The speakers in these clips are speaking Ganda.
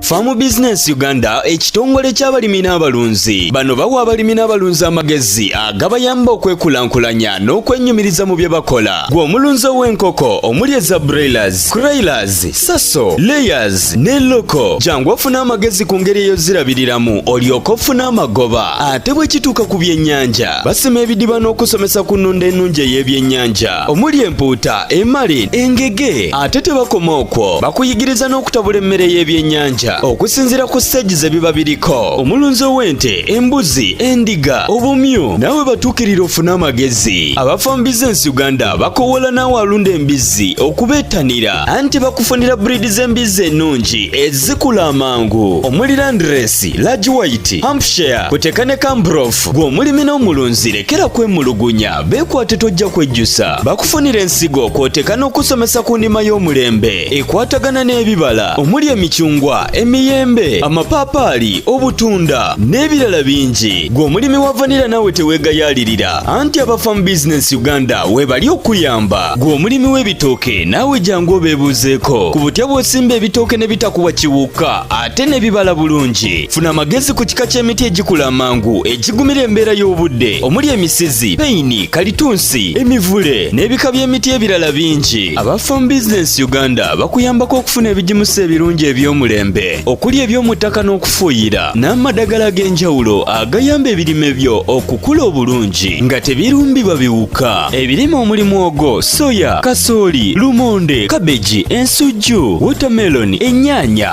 Farm Business Uganda ekitongole ky'abalimi n'abalunzi bano bawa abalimi n'abalunzi amagezi agabayamba okwekulankulanya n'okwenyumiriza mu bye bakola gwe omulunzi ow'enkoko omuli eza broilers, croilers, saso, layers ne loko jangu ofuna amagezi ku ngeri eyo zirabiriramu olyoka ofuna amagoba ate bwe kituuka ku byennyanja basima ebidiba n'okusomesa ku nnunda ennungi ey'ebyennyanja omuli empuuta emali engege ate tebakoma okwo bakuyigiriza n'okutabula emmere y'ebyennyanja okusinziira ku siteegi ze biba biriko omulunzi ow'ente embuzi endiga obumyu naawe batuukirira ofune amagezi abafa mu bizinensi uganda bakowoola naawe alunda embizzi okubeettanira anti bakufunira buriidi z'embizzi ennungi ezikula amangu omuli landiresi lagi wayiti hampshire kuteeka ne kambrof gw'omulimi n'omulunzi lekera kwemulugunya Beekwate tojja kwejjusa bakufunira ensigo kw'oteeka n'okusomesa ku ndima y'omulembe ekwatagana n'ebibala omuli emicungwa emiyembe amapaapaali obutunda n'ebirala bingi gwe omulimi wa vanira naawe teweegayaalirira anti abafamu bizinensi uganda weebali okuyamba gwe omulimi w'ebitooke naawe jangu obeebuuzeeko ku butya bw'osimba ebitooke ne bitakubwa kiwuka ate n'ebibala bulungi funa amagezi ku kika ky'emiti egikula amangu egigumira embeera y'obudde omuli emisizi peyini kalitunsi emivule n'ebika by'emiti ebirala bingi aba farm business uganda bakuyambako okufuna ebigimusa ebirungi eby'omulembe okuli eby'omu ttaka n'okufuuyira n'amadagala ag'enjawulo agayamba ebirime byo okukula obulungi nga tebirumbibwa biwuka ebirime omuli mwogo soya kasooli lumonde kabeji ensujju wotameloni ennyaanya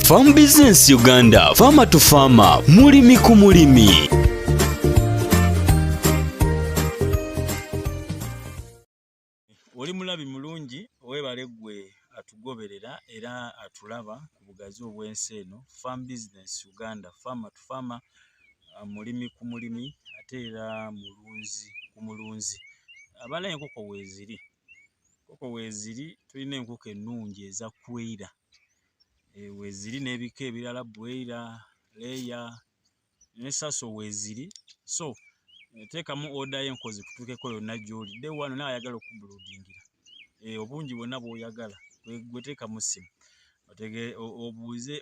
Farm Business Uganda, Farmer to Farmer, mulimi ku mulimi. Oli mulabi mulungi, webale gwe atugoberera era atulaba ku bugazi obw'ensi eno. Farm Business Uganda, Farmer to Farmer, uh, mulimi ku mulimi ate era mulunzi ku mulunzi. Abala enkoko weeziri, enkoko weeziri, tulina enkoko ennungi eza kwera. eh, weziri n'ebika ebirala bweira leeya ne saso weziri so eh, teekamu oda y'enkozi kutuukeko yonna gy'oli de wano nawe ayagala okubuludingira eh, obungi bwonna bw'oyagala gweteeka mu ssimu obuuze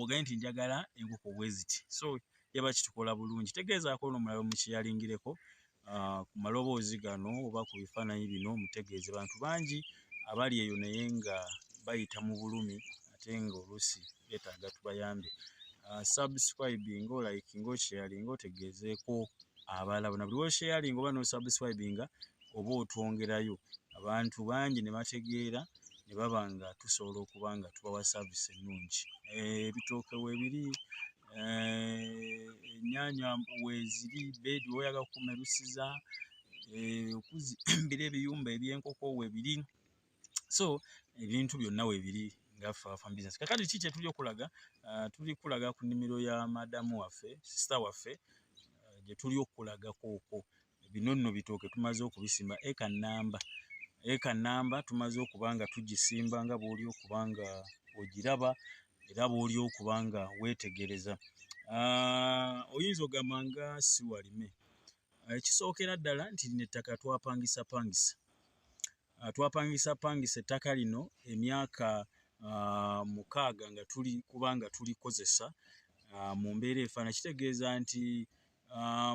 oganye nti njagala enkoko bweziti so yaba kitukola bulungi tegeezaako ono mulala omukiyalingireko ah, ku maloboozi gano oba ku bifaananyi bino mutegeeze bantu bangi abali eyo naye nga bayita mu bulumi ate nga oluusi beetaaga tubayambe ah, subscribing olike nga okyeyali nga otegeezeeko abalala bona buli wosheyalinga oba nosubscribinga oba otwongerayo abantu bangi ne bategeera ne baba nga tusobola okuba nga tubawa saavisi ennungi eh, ebitooke weebiri ennyanya weeziri beedi woyaga kukumerusiza okuzimbira ebiyumba ebyenkoko webiri so ebintu byonna webiri ngaffafambusiness kakati ki kyetuli okulaga ah, tuli kulaga ku nnimiro ya madamu waffe sisita waffe ah, gyetuli okulagakooko bino nno bitooke tumaze okubisimba eka namba eka namba tumaze okuba nga tugisimba nga bwoli okuba nga ogiraba era bwoli okuba nga weetegereza ah, oyinza ogamba nga siwalime ekisookera ddala nti lino ettaka twapangisapangisa Ah, twapangisa pangisa ettaka lino emyaka ah, mukaaga nga tuli kubanga tulikozesa ah, mu mbeera efaana kitegeeza nti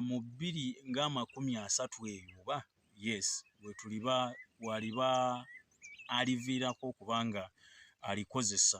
mu bbiri ng'amakumi asatu eyo oba yes wetuliba waliba aliviirako okubanga alikozesa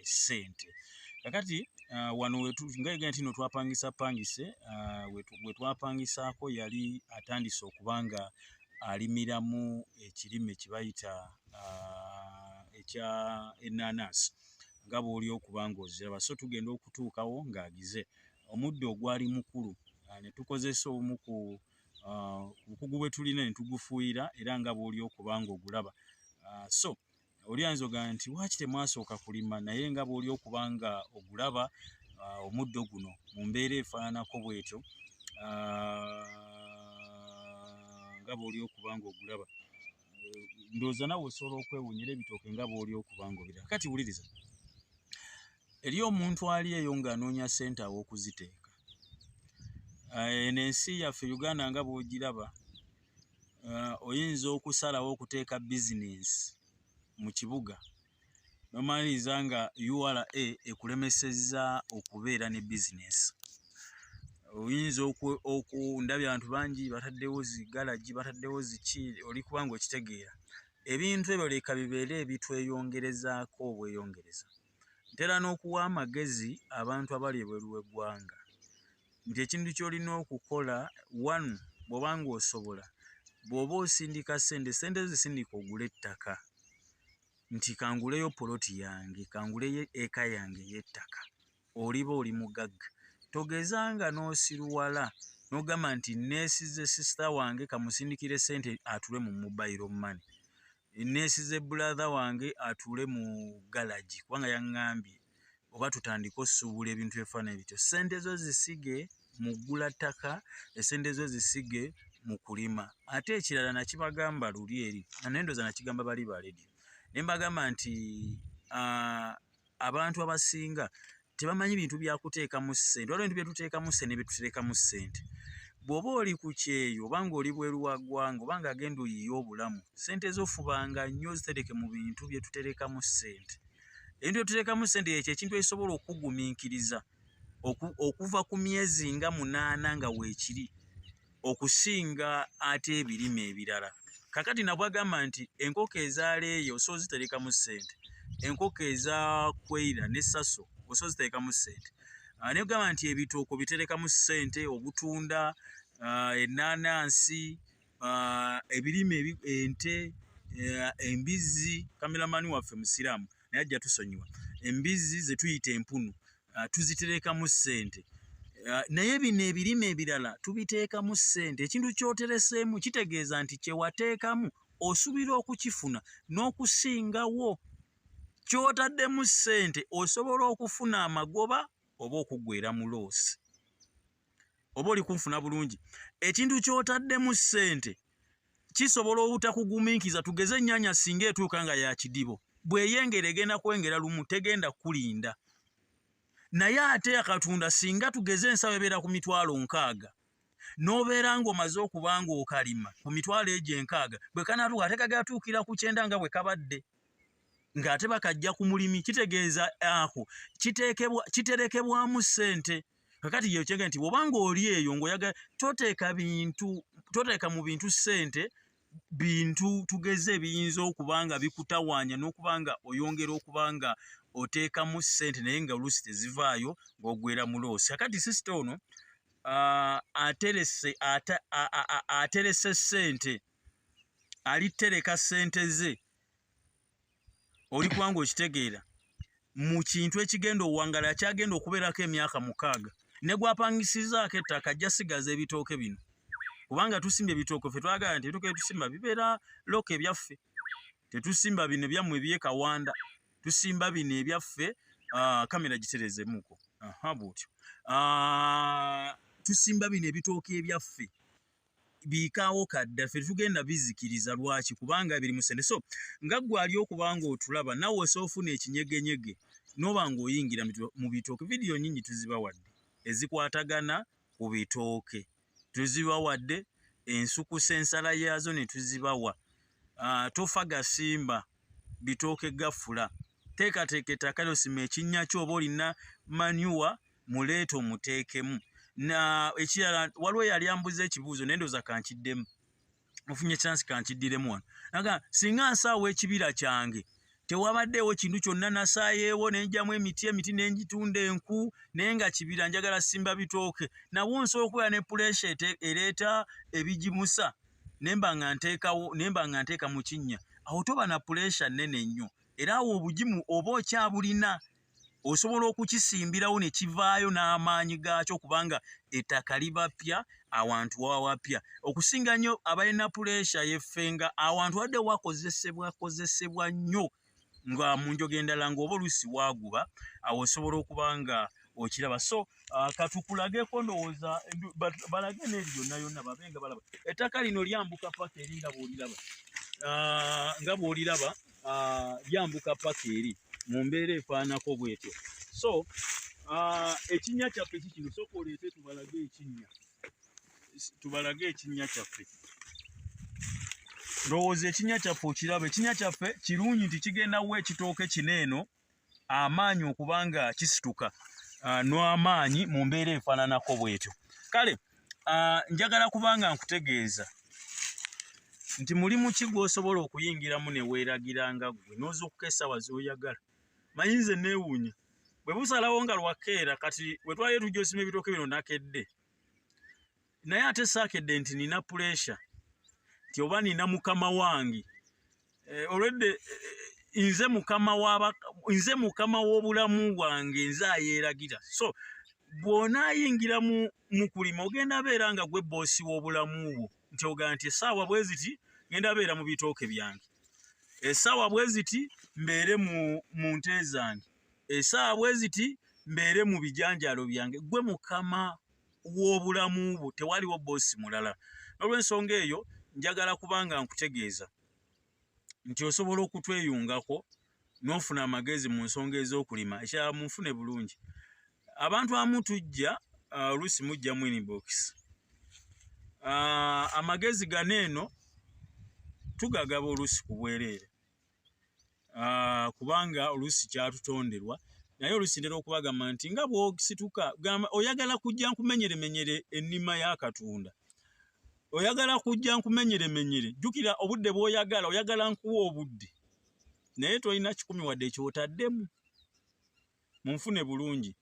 esente kakati uh, wano ngaega nti no twapangisa pangise uh, wetwapangisaako yali atandise okuba nga alimiramu ekirime kibayita uh, ekya enanas nga bwoli okuba ngaoziraba so tugenda okutuukawo ngaagize omuddo ogwali mukulu uh, netukozesa omu ku uh, bukugu bwetulina netugufuuyira era nga bwoli okuba nga ogulaba uh, so oli ayinza ogamba nti lwaki temwasooka kulima naye nga bwoli okuba nga ogulaba uh, omuddo guno mu mbeera efaananako bwetyo uh, nga bwoli okuba nga ogulaba ndowooza nawe osobola okwewunyira ebitooke nga bwoli okuba nga obira kati wuliriza eri omuntu ali eyo ng'anoonya ssente aw'okuziteeka uh, eno ensi yaffe uganda nga bwogiraba uh, oyinza okusalawo okuteeka business mu kibuga nomaliriza nga ura ekulemeseza okubeera ne business oyinza okundabya abantu bangi bataddewo zigalagi bataddewo ziki oli kubanga okitegeera ebintu ebyo leka bibeere ebitweyongerezaako obweyongereza ntera n'okuwa amagezi abantu abali ebweru w'eggwanga nti ekintu ky'olina okukola one bw'oba ng'osobola bw'oba osindika ssente ssente zisindika ogula ettaka nti kanguleyo poloti yange kanguleyo eka yange ey'ettaka oliba oli mugagga togeza nga n'osiruwala n'ogamba nti neesize sisita wange kamusindikire ssente atule mu mobayiro mane Enneesize brother wange atuule mu galagi kubanga yaŋŋambye oba tutandike osuubula ebintu ebifaananyi bityo. Ssente zo zisige mu ggula ttaka, essente zo zisige mu kulima. Ate ekirala nakibagamba luli eri, naye ndowooza nakigamba bali ba leediyo ne mbagamba nti ah, abantu abasinga tebamanyi bintu byakuteekamu ssente waliwo bintu byetuteekamu ssente nebyetuterekamu ssente bw'oba oli ku kyeyo oba ng'oli bweru wa ggwanga oba ng'agenda oyiye obulamu ssente zofubanga nnyo zitereke mu bintu byetuterekamu ssente ebintu byetuterekamu ssente yekyo ekintu ekisobola okugumiikiriza okuva ku myezi nga munaana nga weekiri okusinga ate ebirime ebirala kakati nabwagamba nti enkoko ezaaleeyo osobola ziterekamu ssente enkoko eza kweira ne saso osobola ziterekamu ssente ah, naye ogamba nti ebituuko biterekamu ssente obutunda ah, ennaanansi ah, ebirime ente eh, embizzi kameramani waffe musiraamu naye ajja tusonyiwa embizzi zetuyita empunu uh, tuzitereekamu ssente uh, naye bino ebirime ebirala tubiteekamu ssente ekintu kyotereseemu kitegeeza nti kyewateekamu osubira okukifuna n'okusingawo kyotaddemu ssente osobola okufuna amagoba oba okuggwera mu loosi oba oli kunfuna bulungi ekintu kyotaddemu ssente kisobola obutakuguminkiza tugeze ennyanya singa etuuka nga yakidibo bweyengera egenda kwengera lumu tegenda kulinda naye ate yakatunda singa tugeze ensaba ebeera ku mitwalo nkaaga n'obeera ng'omaze okuba ng'okalima ku mitwalo egyo enkaaga bwe kanatuuka ate kagatuukira ku kyenda nga bwe kabadde ng'ate bakajja ku mulimi kitegeeza ako kiterekebwamu ssente kakati yekyega nti obanga oli eyo ngaoyaga toteeka bintu toteeka mu bintu ssente bintu tugeze ebiyinza okuba nga bikutawaanya n'okuba nga oyongera okuba nga oteekamu ssente naye nga oluusi tezivaayo ng'ogwera mu loosi kakati sisita ono aterese aterese ssente alitereka ssente ze oli kubanga okitegeera mu kintu ekigenda owangala akyagenda okubeerako emyaka mukaaga ne gwapangisizaako ettaka ajja sigaza ebitooke bino kubanga tusimba ebitooke ffe twagala nti ebitooke byetusimba bibeera looka ebyaffe tetusimba bino ebyammwe ebyekawanda tusimba bino ebyaffe ah, kamera giterezemuko bwotyo ah, tusimba bino ebitooke ebyaffe biikaawo kadda ffe tugenda bizikiriza lwaki kubanga biri musente so nga gwe ali okuba nga otulaba nawe osa ofuna ekinyegenyege noba nga oyingira mu bitooke vidiyo nyingi tuzibawadde ezikwatagana ku bitooke tuzibawadde ensukusa ensala yaazo ne tuzibawa ah, tofa gasimba bitooke gafula teekateeka ettaka lyosima ekinnya kyo oba olina manuwa muleete omuteekemu na ekirala waliwo yali ambuza ekibuuzo naye ndooza kankiddemu mufunye chance kankiddiremu wano aga singa nsaawo ekibira kyange tewabaddeewo kintu kyonna nasaayeewo nenjamu emiti emiti nenjitunda enku naye nga kibira njagala simba bitooke nawo nsobola okubeera ne puresha ereeta ebigimusa nemba nga nteekawo nemba nga nteeka mu kinnya awo toba na puresha nnene nnyo era awo obugimu oba okyabulina osobola okukisimbirawo ne kivaayo n'amaanyi gaakyo kubanga ettaka liba ppya awantu waba wapya okusinga nnyo abalina puleesha yeffe nga awantu wadde wakozesebwa kozesebwa nnyo nga mu njoga endala ng'oba oluusi waaguba awo osobola okuba nga okiraba so uh, katukulageko ndowooza balage n'eri yonna yonna babe nga balaba ettaka lino lyambuka paka eri nga bwoliraba uh, nga bwoliraba ah, yambuka paka eri mu mbeera efaanako bwetyo so ah, ekinnya kyaffe kikino sooka oleete tubalage ekinnya tubalage ekinnya kyaffe ndowooza ekinnya kyaffe okiraba ekinnya kyaffe kirungi nti kigenda wa ekitooke kino eno amaanyi okuba nga kisituka ah, n'amaanyi mu mbeera efaananako bwetyo kale ah, njagala kuba nga nkutegeeza nti mulimu ki gw'osobola okuyingiramu ne weeragira nga ggwe n'ozuukuka essaawa z'oyagala manyi nze neewuunya bwe busalawo nga lwakeera kati we twali tujja osima ebitooke bino nakedde naye ate saakedde nti nina puleesha nti oba nina mukama wange eh, olwedde eh, nze mukama waba nze mukama w'obulamu bwange nze ayeeragira so bw'onaayingira mu mukulima ogenda beera nga gwe boosi w'obulamu bwo nti ogaa nti esaawa bwe ziti ngenda beera mu bitooke byange esaawa bwe ziti mbeere mu nte zange esaawa bwe ziti mbeere mu bijanjaalo byange gwe mukama w'obulamu bwo tewaliwo boosi mulala n'olwensonga eyo njagala kubanga nkutegeeza nti osobola okutweyungako n'ofuna amagezi mu nsonga ez'okulima ekirala munfune bulungi abantu amu tujja uh, oluusi mujja mu inbox uh, amagezi gano eno tugagaba oluusi ku bwereere ah, kubanga oluusi kyatutonderwa naye oluusi ntera okubagamba nti nga bwosituka gamba oyagala kujja nkumenyeremenyere ennima ya katonda oyagala kujja nkumenyeremenyere jjukira obudde bwoyagala oyagala nkuwa obudde naye tolina kikumi wadde ekyotaddemu munfune bulungi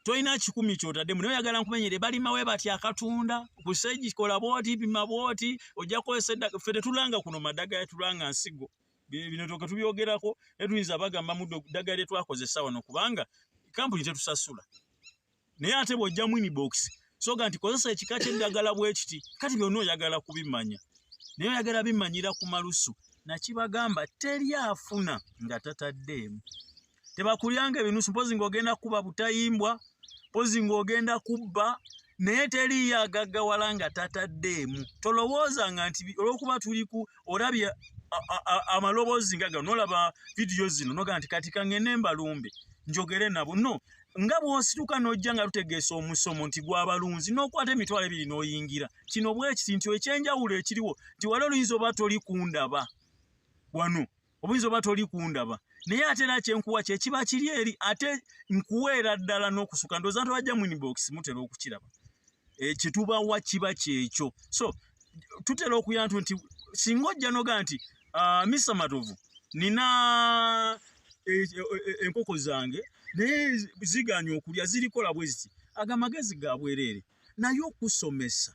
tolina kikumi kyotadde mune oyagala nkumenyere balima we batya akatunda kusegikola bwoti pima bwoti ojja kukozesa eddagala ffe tetulanga kuno madagala tulanga nsigo bino toke tubyogerako netuyinza bagamba muddo ddagala lyetwakozesa wano kubanga kampuni tetusasula naye ate bw'ojjamu inibokisi soga nti kozesa ekika ky'eddagala bwe kiti kati byonna oyagala kubimanya naye oyagala bimanyira ku malusu nakibagamba teri afuna nga tataddeemu tebakulyanga ebinusu mpozi ng'ogenda kukuba butayimbwa mpozi ng'ogenda kubba naye teriyo agaggawala nga tataddeemu tolowooza nga nti olw'okuba tuli ku olabye amaloboozi nga gano nolaba vidiyo zino noga nti kati kangende mbalumbe njogere nabo no nga bw'osituka n'ojja nga lutegeesa omusomo nti gw'abalunzi n'okwata emitwalo ebiri n'oyingira kino bwekiti nti ekyenjawulo ekiriwo nti wali oluyinza oba toli kundaba wano obuyinza oba toli kundaba naye ate era kyenkuwa kyekiba kiri eri ate nkuweera ddala n'okusuka ndooza nti wajja minibox mutera okukiraba eh, kyetubawa kiba kyekyo so tutera okuyantu nti singa ojja noga nti uh, ah, Mr. Matovu nina e, e, e, enkoko zange naye ziganye okulya zirikola bweziti aga amagezi ga bwereere naye okusomesa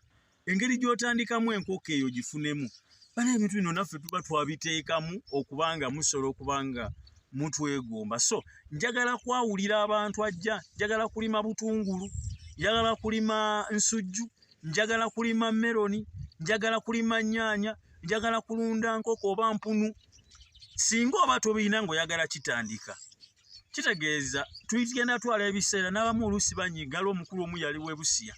engeri gy'otandikamu enkoko eyo gifunemu bana ebintu bino naffe tuba twabiteekamu okuba nga musobola okuba nga mutwegomba so njagala kwawulira abantu ajja njagala kulima butungulu njagala kulima nsujju njagala kulima meloni njagala kulima nyaanya njagala kulunda nkoko oba mpunu singa oba tobirina ngaoyagala kitandika kitegeeza tugenda twala ebiseera n'abamu oluusi banyiiga ali omukulu omu yali webusiya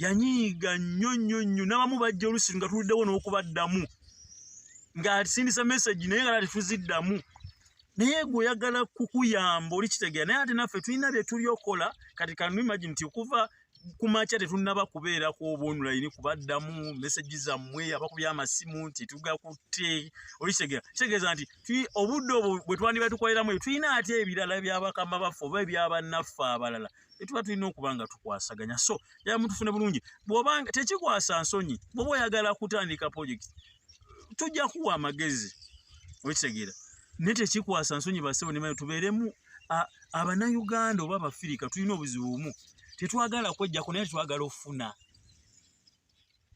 yanyiiga nnyo nnyo nnyo n'abamu bajja oluusi nga tuluddewo n'okubaddamu ng'asindisa mesagi naye nga tatufuziddamu naye gwe oyagala kukuyamba oli kitegeera naye ate naffe tulina bye tuli okola kati kanu imagine nti okuva kumakya tetunnaba kubeerako obonulaini kubaddamu mesagi zammwe abakubya amasimu nti tugakutte olikitegeera kitegeeza nti obudde obwo bwe twandiba tukoleramu eyo tulina ate ebirala byabakama baffe oba ebyabannaffe abalala etuba tulina okuba nga tukwasaganya so yaba mutufune bulungi bwobanga tekikwasa nsonyi bwoba oyagala kutandika projekiti tujja kuwa amagezi okitegeera naye tekikwasa nsonyi basebo nemayo tubeeremu abanayuganda oba abafirika tulina obuzibu bumu tetwagala kwejjako naye twagala ofuna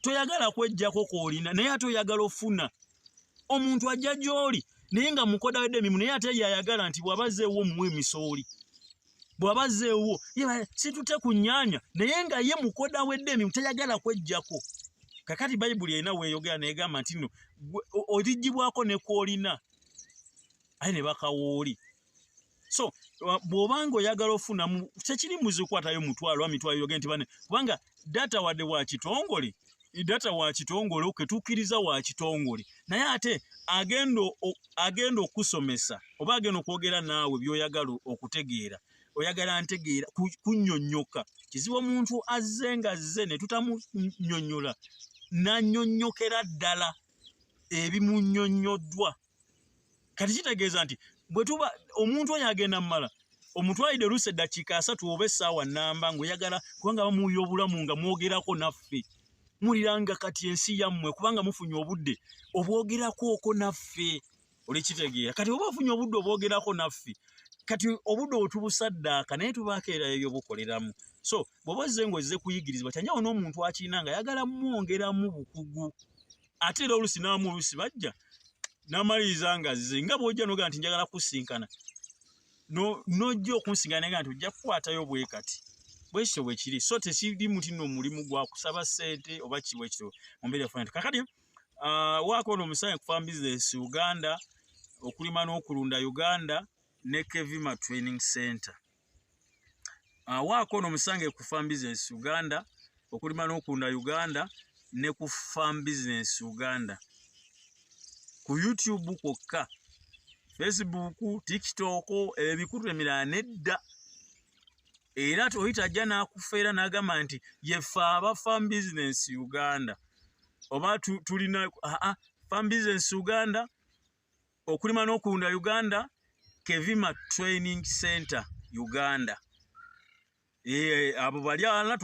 toyagala kwejjako koolina naye ate oyagala ofuna omuntu ajja gy'oli naye nga mukoda wedde emimu naye ate yayagala nti bw'aba zeewo omuwa emisooli bw'aba zeewo situte ku nnyanya naye nga ye mukoda wedde emimu tayagala kwejjako kakati bayibuli erina weeyogera neegamba nti no oligibwako ne kwolina aye ne bakawooli so uh, bwobanga oyagala ofunamu kyekiri muzikwatayo mutwalo amitwalo yoge nti bane kubanga data wadde wakitongole data wakitongole oketukiriza wakitongole naye ate agenda agenda okusomesa oba agenda okwogera naawe byoyagala okutegeera oyagala ntegeera kunyonyoka kizibu omuntu azze nga zze ne tutamunyonyola nanyonyokera ddala ebimunyonyoddwa kati kitegeeza nti bwe tuba omuntu oyo agenda mu mala omutwalidde oluusi eddakiika asatu oba essaawa nnamba ng'oyagala kubanga bamuwulira obulamu nga mwogerako naffe muliranga kati ensi yammwe kubanga mufunye obudde obwogerakooko naffe olikitegeera kati oba ofunye obudde obwogerako naffe kati obudde otubusaddaaka naye tubaako erayo byobukoleramu so bwoba ozze ngaozze kuyigirizibwa kyanjawo n'omuntu akirina nga ayagala mwongeramu bukugu ate era olusi naamu olusi bajja namaliriza nga zze nga bwojja noga nti njagala kusinkana nojja okunsinkana nga nti ojja kukwatayo bwekati bwekityo bwekiri so tekiri muti no omulimu gwa kusaba sente oba kibwekityo mumbeera yafuna nti kakati ah, waako ono omusayi kufa bizinesi uganda okulima n'okulunda uganda ne kevima training center awaako ono musange ku farm business uganda okulima n'okunda uganda ne ku farm business uganda ku youtube kwokka facebook tiktok ebikutu emirala nedda era toyita ajja n'akufeera n'agamba nti yefe aba farm business uganda oba tulina aa farm business uganda okulima n'okulunda uganda kevima training center uganda eh, abo bali alana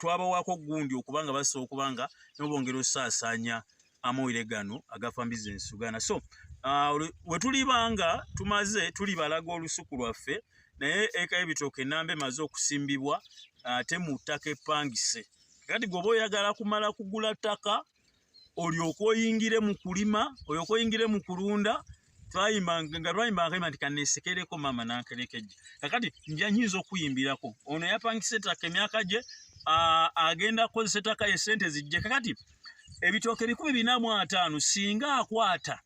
twabawako gundi okuba nga basobola okuba nga nobongera osaasaanya amawulire gano agafa mbizi ensugana so ah, wetuliba nga tumaze tuli balaga olusuku lwaffe naye eka ebitooka enamba emaze okusimbibwa ate ah, mu ttaka epangise kati gweoba oyagala kumala kugula ttaka olyoka oyingire mu kulima olyoka oyingire mu kulunda nga lwayimba akayimba nti kaneesekereko maama nankerekejja kakati nja nyinza okuyimbirako ono yapangisa ettaka emyaka gye agenda kukozesa ettaka ye sente zijje kakati ebitooke ebikumi bina mu ataano singa akwata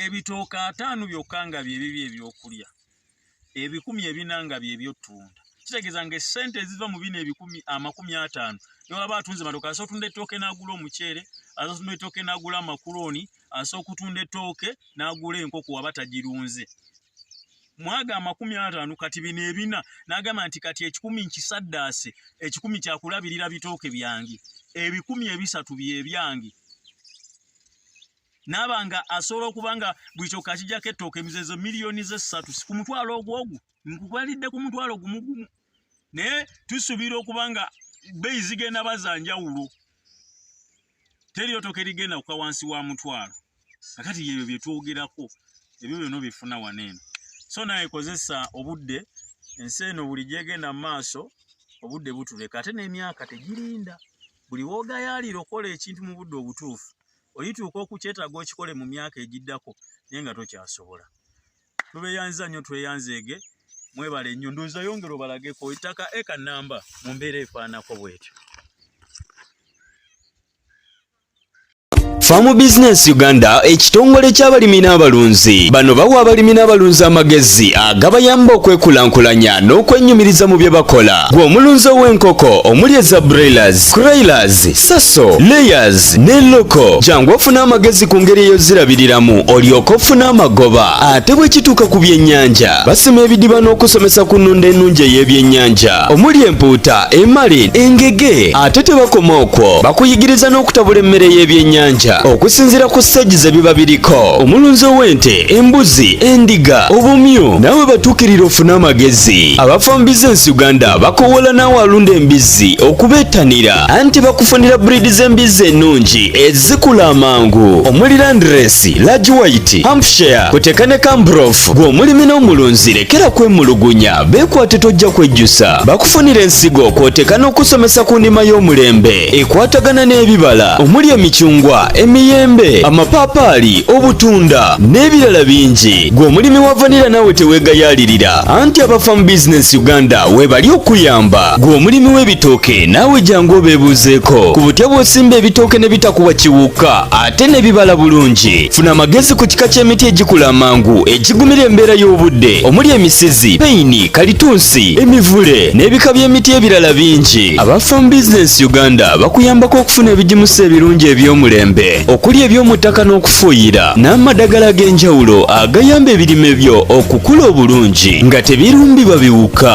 ebitooke ataano byokka nga byebibi ebyokulya ebikumi ebina nga byebyotunda kitegeeza nga esente eziva mu bino ebikumi amakumi ataano newaba atunze matoke asa otunda ettooke n'agula omuceere asa otunda ettooke n'agula amakulooni asa okutunda ettooke n'agula enkoko waba tagirunze mwaga amakumi ataano kati bino ebina n'agamba nti kati ekikumi nkisaddaase ekikumi kyakulabirira bitooke byange ebikumi ebisatu byebyange naaba nga asobola okuba nga buli kyoka akijako ettooka emizezo miliyoni zessatu ku mutwalo ogwo ogwo nkukwalidde ku mutwalo gumu gumu naye tusuubira okuba nga beyi zigenda bazanjawulo teriyo toka erigenda kuka wansi wa mutwalo akati yebyo byetwogerako ebyo byona bifuna wano eno so naye kozesa obudde ensi eno buli gyegenda mu maaso obudde butuleka ate n'emyaka tegirinda buli woogayaalira okola ekintu mu budde obutuufu olituuka okukyetaaga okikole mu myaka egiddako naye nga tokyasobola tubeyanziza nnyo tweyanzeege mwebale nnyo ndowooza yongera obalageko ettaka eka namba mu mbeera efaanako bwetyo Farm Business Uganda ekitongole ky'abalimi n'abalunzi bano bawa abalimi n'abalunzi amagezi agabayamba okwekulaakulanya n'okwenyumiriza mu bye bakola gwe omulunzi ow'enkoko omuli eza broilers, croilers, saso layers ne loko jangu ofuna amagezi ku ngeri eyozirabiriramu olyoka ofuna amagoba ate bwe kituuka ku byennyanja basima ebidiba n'okusomesa ku nnunda ennungi ey'ebyennyanja omuli empuuta emali engege ate tebakoma okwo bakuyigiriza n'okutabula emmere y'ebyennyanja okusinziira ku siteegi ze biba biriko omulunzi ow'ente embuzi endiga obumyu nawe batuukirira ofune amagezi abafambiza ensi uganda bakowola naawe alunda embizzi okubeetanira anti bakufunira buriidi z'embizzi ennungi ezikula amangu omuli landiresi lagi wayiti hampshire kuteka ne kambrof gw'omulimi n'omulunzi lekera kwemulugunya beekwate tojja kwejjusa bakufunira ensigo kwoteka n'okusomesa ku ndima y'omulembe ekwatagana n'ebibala omuli emicungwa emiyembe amapaapaali obutunda n'ebirala bingi gw'omulimi wa vanira nawe teweegayaalirira anti abafamu bizinesi uganda webali okuyamba gwe omulimi w'ebitooke naawe jangu obeebuuzeeko ku butya bw'osimba ebitooke ne bitakuwa kiwuka ate ne bibala bulungi funa amagezi ku kika ky'emiti egikula amangu egigumira embeera y'obudde omuli emisizi peyini kalitunsi emivule n'ebika by'emiti ebirala bingi aba farm business uganda bakuyambako okufuna ebigimusa ebirungi eby'omulembe okuli eby'omu ttaka n'okufuuyira n'amadagala ag'enjawulo agayamba ebirime byo okukula obulungi nga tebirumbibwa biwuka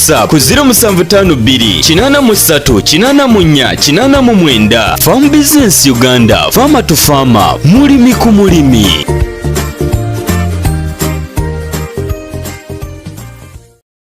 whatsapp ku 0752838489 farm business uganda farmer to farmer mulimi ku mulimi